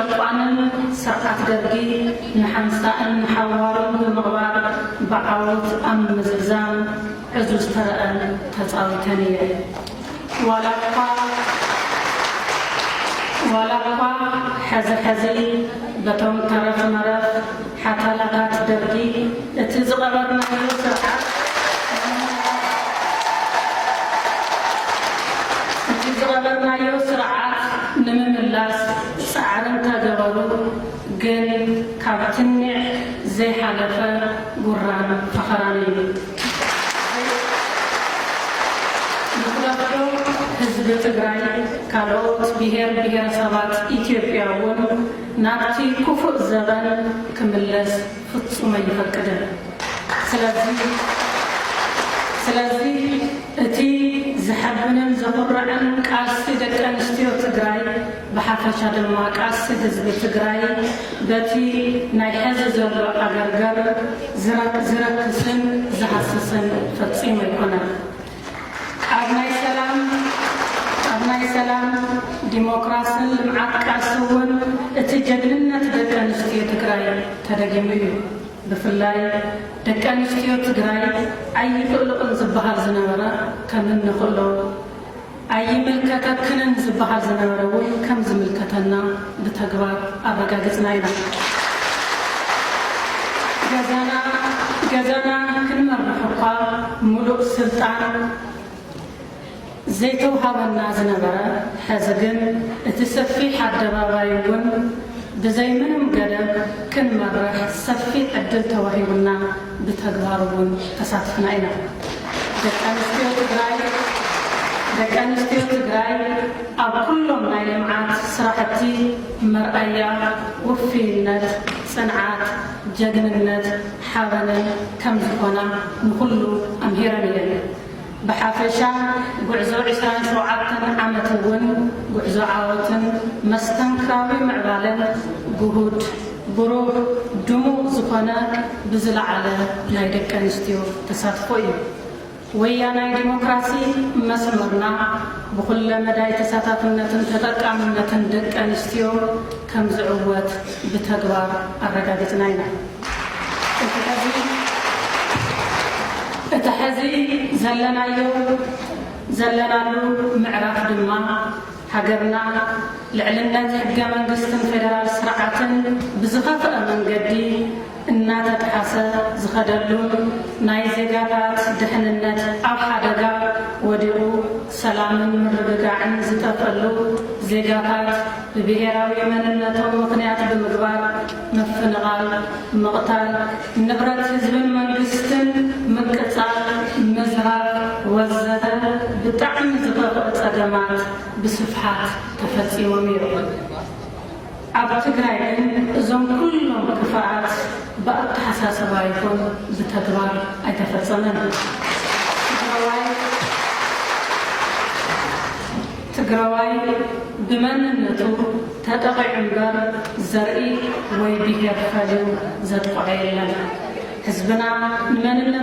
ዕጡቓንን ስርዓት ደርጊ ንሓንሳእን ንሓዋሩን ብምቕባር ብዓወት ኣብ ምምዝዛም ዕዙዝ ተረኣን ተጻዊተን እየን። ዋላ እኳ ዋላ እኳ ሕዚ ሕዚ በቶም ተረፍ መረፍ ሓታላታት ደርጊ እቲ ዝቐረብናዮ ስርዓት እቲ ዝቐረብናዮ ስርዓት ንምምላስ ጻዕሪ እንተገበሩ ግን ካብ ትንዕ ዘይሓለፈ ጉራን ፈኸራን እዩ። ንኽለፍዶ ህዝቢ ትግራይ ካልኦት ብሄር ብሄረሰባት ኢትዮጵያ እውን ናብቲ ክፉእ ዘበን ክምለስ ፍጹም ኣይፈቅድን። ስለዚ ስለዚ እቲ ዘሐብንን ዘኹርዕን ቃልሲ ደቂ ኣንስትዮ ትግራይ ብሓፈሻ ድማ ቃልሲ ህዝቢ ትግራይ በቲ ናይ ሐዚ ዘሎ ዓገርገር ዝረክስን ዝሃስስን ፈጺሙ ኣይኮነን። ኣብ ናይ ሰላም ኣብ ናይ ሰላም ዲሞክራስን ልምዓት ቃልሲ እውን እቲ ጀግንነት ደቂ ኣንስትዮ ትግራይ ተደጊሙ እዩ። ብፍላይ ደቂ ኣንስትዮ ትግራይ ኣይክእልኦን ዝበሃል ዝነበረ ከም እንክእሎ፣ ኣይምልከተክንን ዝበሃል ዝነበረ እውን ከም ዝምልከተና፣ ብተግባር ኣረጋጊፅና ኢና። ገዛና ገዛና ክንመርሕ እኳ ሙሉእ ስልጣን ዘይተውሃበና ዝነበረ ሐዚ ግን እቲ ሰፊሕ ኣደባባይ እውን ብዘይ ምንም ገደብ ክንመርሕ ሰፊሕ ዕድል ተዋሂቡና። ብተግባር እውን ተሳቲፍና ኢና። ደቂ ኣንስትዮ ትግራይ ደቂ ኣንስትዮ ትግራይ ኣብ ኩሎም ናይ ልምዓት ስራሕቲ መርኣያ ውፍይነት፣ ፅንዓት፣ ጀግንነት፣ ሓበንን ከምዝኾና ንኹሉ ኣምሂረን እየን። ብሓፈሻ ጉዕዞ ዕስራን ሸውዓተን ዓመት እውን ጉዕዞ ዓወትን መስተንክራዊ ምዕባለን ግሁድ፣ ብሩህ፣ ድሙቕ ዝኾነ ብዝለዓለ ናይ ደቂ ኣንስትዮ ተሳትፎ እዩ። ወያናይ ዲሞክራሲ መስመርና ብኹለ መዳይ ተሳታፍነትን ተጠቃምነትን ደቂ ኣንስትዮ ከምዝዕወት ብተግባር ኣረጋጊፅና ኢና። እቲ ሐዚ ዘለናዮ ዘለናሉ ምዕራፍ ድማ ሃገርና ልዕልነት ሕገ መንግስትን ፌደራል ስርዓትን ብዝኸፈኣ መንገዲ እናተጥሓሰ ዝኸደሉን ናይ ዜጋታት ድሕንነት ኣብ ሓደጋ ወዲቑ ሰላምን ምርግጋዕን ዝጠፍእሉ ዜጋታት ብብሄራዊ መንነቶም ምኽንያት ብምግባር ምፍንቓል፣ ምቕታል ንብረት ህዝብን መንግስትን፣ ምቅጻል፣ ምዝራፍ ወዘተ ብጣዕሚ ዝኸፍኡ ጸገማት ብስፍሓት ተፈጺሞም እዮም። ኣብ ትግራይ ግን እዞም ኩሎም ክፋኣት ብኣተሓሳስባ ይኹን ብተግባር ኣይተፈጸመን። ትግራዋይ። ትግራዋይ ብመንነቱ ተጠቒዑ እምበር ዘርኢ ወይ ብሄር ፈሊዩ ዘጥቕዖ የለን። ህዝብና ንመንነቱ።